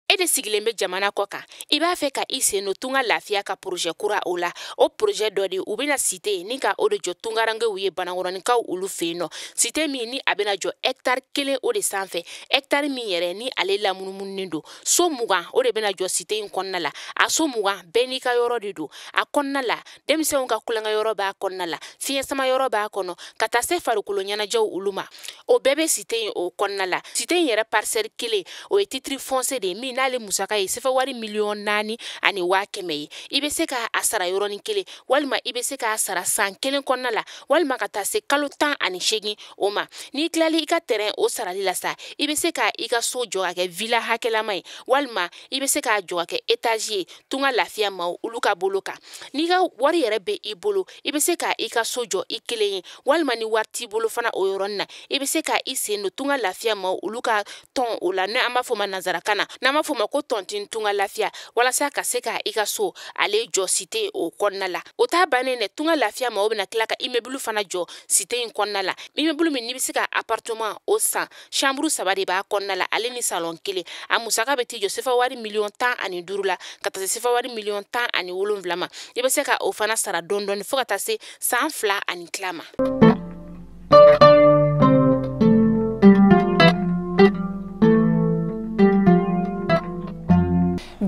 e de sigilen bɛ jamana kɔ kan i b'a fɛ ka i sen don tunga lafiya ka porozɛ kura o la o porozɛ dɔ de u bɛna site ni ka o de jɔ tungarankew ye banakɔrɔninkaw olu fɛ yen nɔ site min ni a bɛna jɔ hɛkitari kelen o de sanfɛ hɛkitari min yɛrɛ ni ale lamunumununen don so mugan o de bɛna jɔ site in kɔnɔna la a so mugan bɛɛ n'i ka yɔrɔ de don a kɔnɔna la denmisɛnw ka tulonkɛyɔrɔ b'a kɔnɔna la fiɲɛ sama yɔrɔ b'a kɔnɔ ka taa se farikolo ɲɛnajɛw olu ma o bɛɛ bɛ site in o kɔnɔna la site in yɛrɛ parisɛli kelen o ye titiri fɔnsiye de ye min n'ale musaka ye sefa wari miliyɔn naani ani waa kɛmɛ ye i bɛ se ka a sara yɔrɔnin kelen walima i bɛ se k'a sara san kelen kɔnɔna la walima ka taa se kalo tan ani seegin o ma n'i tilali i ka tɛrɛn o sarali la sa i bɛ se ka i ka so jɔ ka kɛ vila hakɛlama ye walima i bɛ se k'a jɔ ka kɛ etazi ye tunga lafiya maaw olu ka bolo kan n'i ka wari yɛrɛ be i bolo i be se ka i ka so jɔ i kelen ye walima ni wari t'i bolo fana o yɔrɔnin na i be se ka i sen don tunga lafiya maaw olu ka tɔn o la ni an b'a fɔ ma nansarakan na n'an b'a fɔ ma ko tɔntin tunga lafiya walasa ka se ka i ka so ale jɔ site o kɔnɔna la o t'a bannen dɛ tunga lafiya maaw bena tila ka imebulu fana jɔ site in kɔnɔna la imebulu min n'i be se ka apartɔman o san samburu saba de b'a kɔnɔna la ale ni salɔn kelen a musaka bɛ t'i jɔ sefa wari miliyɔn tan ani duuru la ka taa se sefa wari miliyɔn tan ani wolonwula ma i bɛ se ka o fana sara dɔɔni dɔɔni fo ka taa se san fila ani tila ma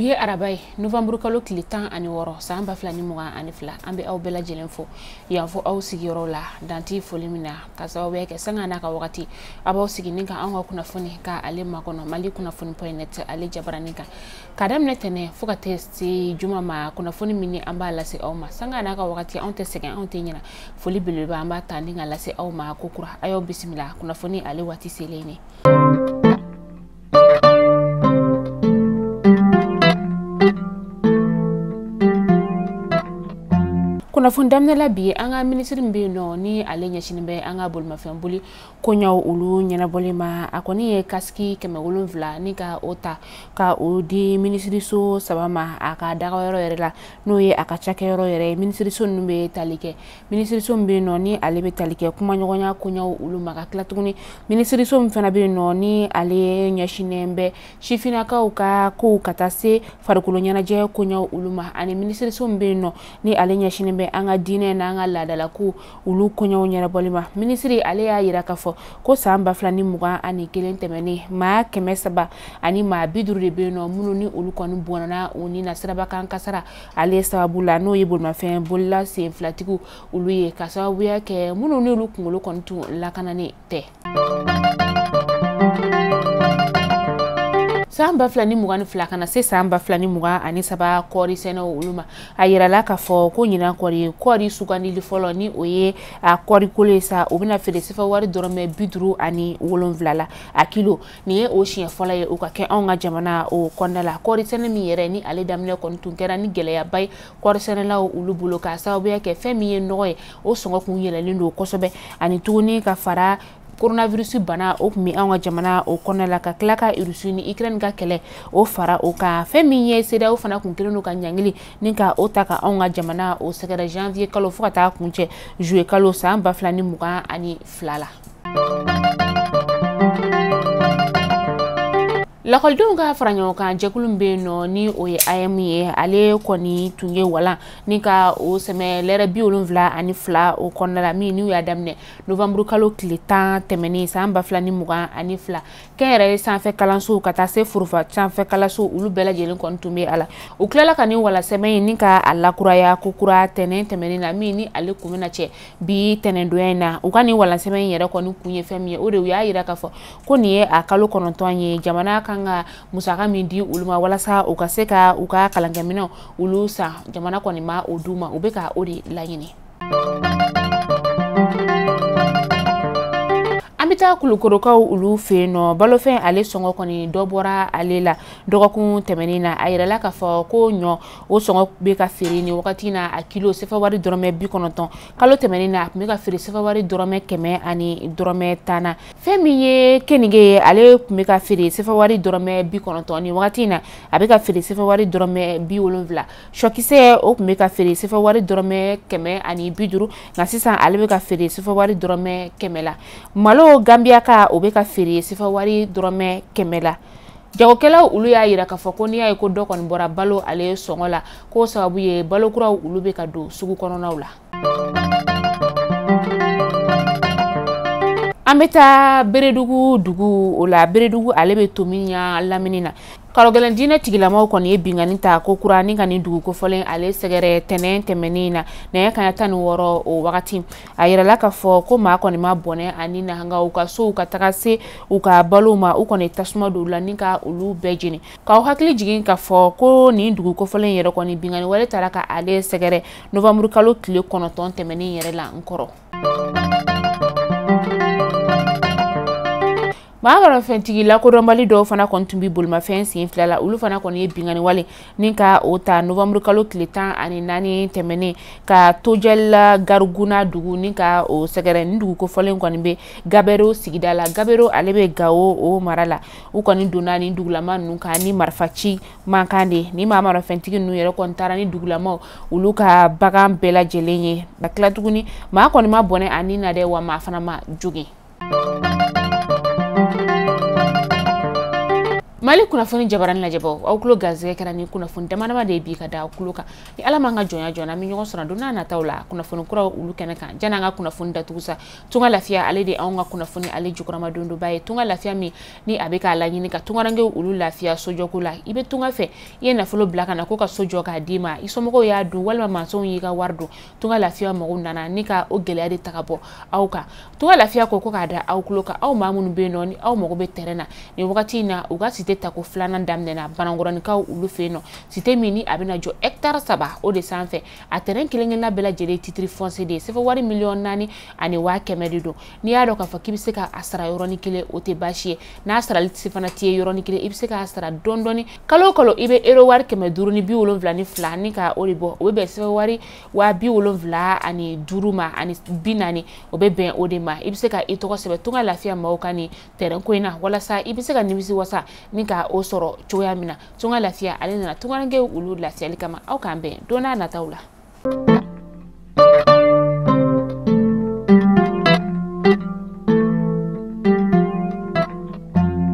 bi ye araba ye novamburu kalo tile tan ani wɔɔrɔ san ba fila ni mugan ani fila an be aw bɛɛ lajɛlen fo yan fo aw sigiyɔrɔ la dan tɛ foli min na ka sababuya kɛ sanga n'a ka wagati a b'aw sigi ni ka anw ka kunnafoni ka ale makɔnɔ mali kunnafoni pɔyi nɛt ale jabaranin kan ka daminɛ tɛnɛn fo ka taa se juma ma kunnafoni min ni an b'a lase aw ma sanga n'a ka wagati anw tɛ sɛgɛn anw tɛ ɲina foli belebeleba an b'a ta ni k'a lase aw ma kokura a y'aw bisimila kunnafoni ale waati selen ne kunnafoni daminɛ la bi an ka minisiri min bɛ yen nɔ ni ale ɲɛsinnen bɛ an ka bolimafɛn boli koɲɛw olu ɲɛnabɔli ma a kɔni ye kasiki kɛmɛ wolonwula ni ka o ta ka o di minisiriso saba ma a ka dagayɔrɔ yɛrɛ la n'o ye a ka cakɛyɔrɔ yɛrɛ ye minisiriso ninnu bɛ tali kɛ minisiriso min bɛ yen nɔ ni ale bɛ tali kɛ kumaɲɔgɔnya koɲɛw olu ma ka tila tuguni minisiriso min fana bɛ yen nɔ ni ale ɲɛsinnen bɛ sifinnakaw ka kow ka taa se farikolo ɲɛnajɛ koɲɛw olu ma ani minisiriso min bɛ yen nɔ ni ale ɲɛsinnen bɛ an ka diinɛ n'an ka laadalakow olu koɲɛw ɲɛnabɔli ma minisiri ale y'a yira k'a fɔ ko san ba fila ni mugan ani kelen tɛmɛnen maa kɛmɛ saba ani maa bi duuru de bɛ yen nɔ minnu ni olu kɔni bɔnna u ni na siraba kan kasara ale sababu la n'o ye bolimafɛn bolila sen filatigiw olu ye ka sababuya kɛ minnu n'olu kunkolo kɔni tun lakananen tɛ san ba fila ni mugan ni fila ka na se san ba fila ni mugan ani saba kɔɔri sɛnɛw olu ma a yirala k'a fɔ ko ɲinan kɔɔri kɔɔri sugandili fɔlɔ ni o ye a kɔɔri kolo ye sa o bɛna feere sefa wari dɔrɔmɛ bi duuru ani wolonfila la a kilo nin ye o siɲɛ fɔlɔ ye o ka kɛ anw ka jamana o kɔnɔna la kɔɔrisɛnɛ min yɛrɛ ni ale daminɛ kɔni tun kɛra ni gɛlɛyaba ye kɔɔrisɛnɛlaw olu bolo k'a sababuya kɛ fɛn min ye nɔgɔ ye o sɔngɔ kun yɛlɛlen don kosɛbɛ ani tuguni ka fara coronavirus bana o tun bɛ an ka jamana o kɔnɔna la ka tila ka irisi ni ukraine ka kɛlɛ o fara o kan fɛn min ye cedeao fana kun kelen don ka ɲangili ni ka o ta ka anw ka jamana o sɛgɛrɛ janvier kalo fo ka taa kuncɛ juillet kalo san ba fila ni mugan ani fila la lakɔlidenw ka fara ɲɔgɔn kan jɛkulu min bɛ yen nɔ ni o ye aeem ye ale kɔni tun ye walan ni ka o sɛmɛ lɛrɛ bi wolonfila ani fila o kɔnɔna la min n'u y'a daminɛ novanburu kalo tile tan tɛmɛnen san ba fila ni mugan ani fila kɛnyɛrɛye sanfɛ kalansow ka taa se foroba sanfɛ kalansow olu bɛɛ lajɛlen kɔni tun bɛ a la u tilala ka nin walansɛmɛ in ni ka a lakuraya ko kura tɛnɛn tɛmɛnen na min ni ale kun bɛna cɛ bi tɛnɛndonya in na u ka nin walansɛmɛ in yɛrɛ kɔni kun ye fɛn min ye o de u y'a yira k'a fɔ ko nin ye a kalo kɔnɔntɔn ye jamana kan ka musaka min di olu ma walasa u ka se ka u ka kalankɛminɛnw olu san jamana kɔni ma o d'u ma u bɛ ka o de laɲini an bɛ taa kulukɔrɔkaw olu fɛ yen nɔ balofɛn ale sɔngɔ kɔni dɔ bɔra ale la dɔgɔkun tɛmɛnen na a yirala k'a fɔ ko ɲɔ o sɔngɔ bɛ ka feere nin wagati in na a kilo sefa wari dɔrɔmɛ bi kɔnɔntɔn kalo tɛmɛnen na a tun bɛ ka feere sefa wari dɔrɔmɛ kɛmɛ ani dɔrɔmɛ tan na fɛn min ye keninge ye ale tun bɛ ka feere sefa wari dɔrɔmɛ bi kɔnɔntɔn nin wagati in na a bɛ ka feere sefa wari dɔrɔmɛ bi wolonfila sɔkisɛ o tun bɛ ka feere sefa wari dɔrɔmɛ kɛmɛ ani bi duuru nka sisan ale bɛ ka feere sefa wari dɔrɔmɛ kɛmɛ la malo ganbiyaka o bɛ ka feere sefa wari dɔrɔmɛ kɛmɛ la jagokɛlaw olu y'a yira k'a fɔ ko n'i y'a ye ko dɔ kɔni bɔra balo ale sɔngɔ la k'o sababu ye balo kuraw olu bɛ ka don sugu kɔnɔnaw la an bɛ taa beredugu dugu o la beredugu ale bɛ to minya lamini na karogɛlɛn diinɛ tigilamaw kɔni ye binkanni ta ko kura ni ka nin dugu kofɔlen ale sɛgɛrɛ tɛnɛn tɛmɛnen na nɛgɛ kanɲɛ tan ni wɔɔrɔ o wagati a yirala k'a fɔ ko maa kɔni ma bɔnɛ a ni na nka u ka sow ka taga se u ka balow ma u kɔni tasuma don u la ni ka olu bɛɛ jeni k'aw hakili jigin k'a fɔ ko nin dugu kofɔlen yɛrɛ kɔni binkanni wale taara ka ale sɛgɛrɛ novanburu kalo tile kɔnɔntɔn tɛmɛnen yɛrɛ la n kɔrɔ maamarafɛntigi lakodɔnbali dɔw fana kɔni tun bɛ bolimafɛn sen fila la olu fana kɔni ye binkanni wale ni ka o ta novanburu kalo tile tan ani naani tɛmɛnen ka tojɛlila gariguna dugu ni ka o sɛgɛrɛ ni dugu kofɔlen kɔni bɛ gabɛro sigida la gabɛro ale bɛ gawo o mara la u kɔni donna ni dugulama ninnu kan ni marifaci mankan de ni maamarafɛntigi ninnu yɛrɛ kɔni taara ni dugulamaw olu ka bagan bɛɛ lajɛlen ye ka tila tuguni maa kɔni ma bɔnɛ a ni na dɛ wa maa fana ma jogin mali kunnafoni jabaranin lajɛbaw aw kulo garisɛgɛ kɛra ni kunnafoni damadama de ye bi ka da aw kulo kan ni ala ma an ka jɔnya jɔ an bɛ ɲɔgɔn sɔrɔ don n'a nataw la kunnafoni kuraw olu kɛnɛ kan jan'an ka kunnafoni datugu sa tunga lafiya ale de anw ka kunnafoni ale jukɔrɔmadondonba ye tunga lafiya min ni a bɛ k'a laɲini ka tungarankew olu lafiya sojɔko la i bɛ tunga fɛ i ye nafolo bila ka na ko ka so jɔ k'a d'i ma i somɔgɔw y'a dun walima mansɔnw y'i ka wari dun tunga lafiya mɔgɔw nana ni ka o gɛlɛya de ta ka bɔ aw kan tunga lafiya ko ko k'a da aw kulo kan aw maa minnu bɛ yen nɔ ni aw mago bɛ tɛrɛn na nin wagati in na u ka site tako filanan daminɛna banankɔrɔnikaw olu fɛ yen nɔ site min ni a bɛna jɔ hɛkitari saba o de sanfɛ a tɛrɛn kelen-kelenna bɛɛ lajɛlen titiri fɔnse de ye sɛfɛ wari miliyɔn naani ani waa kɛmɛ de don n'i y'a dɔn k'a fɔ k'i bɛ se ka a sara yɔrɔnin kelen o tɛ baasi ye n'a sarali fana t'i ye yɔrɔnin kelen i bɛ se k'a sara dɔɔni dɔɔni kalo o kalo i bɛ euro wari kɛmɛ duuru ni bi wolonwula ni fila ni ka o de bɔ o bɛ bɛn sɛfɛ wari waa bi wolonwula ani duuru ma ani bi naani o bɛ bɛn o de ma i bɛ se ka i tɔgɔ sɛbɛn tunga lafiya maaw ka nin tɛrɛn ko in na walasa i bɛ se ka nimisi wasa ni ka o sɔrɔ cogoya min na tunga lafiya ale nana tungarankew olu lafiyali kama aw k'an bɛn don n'a nataw la.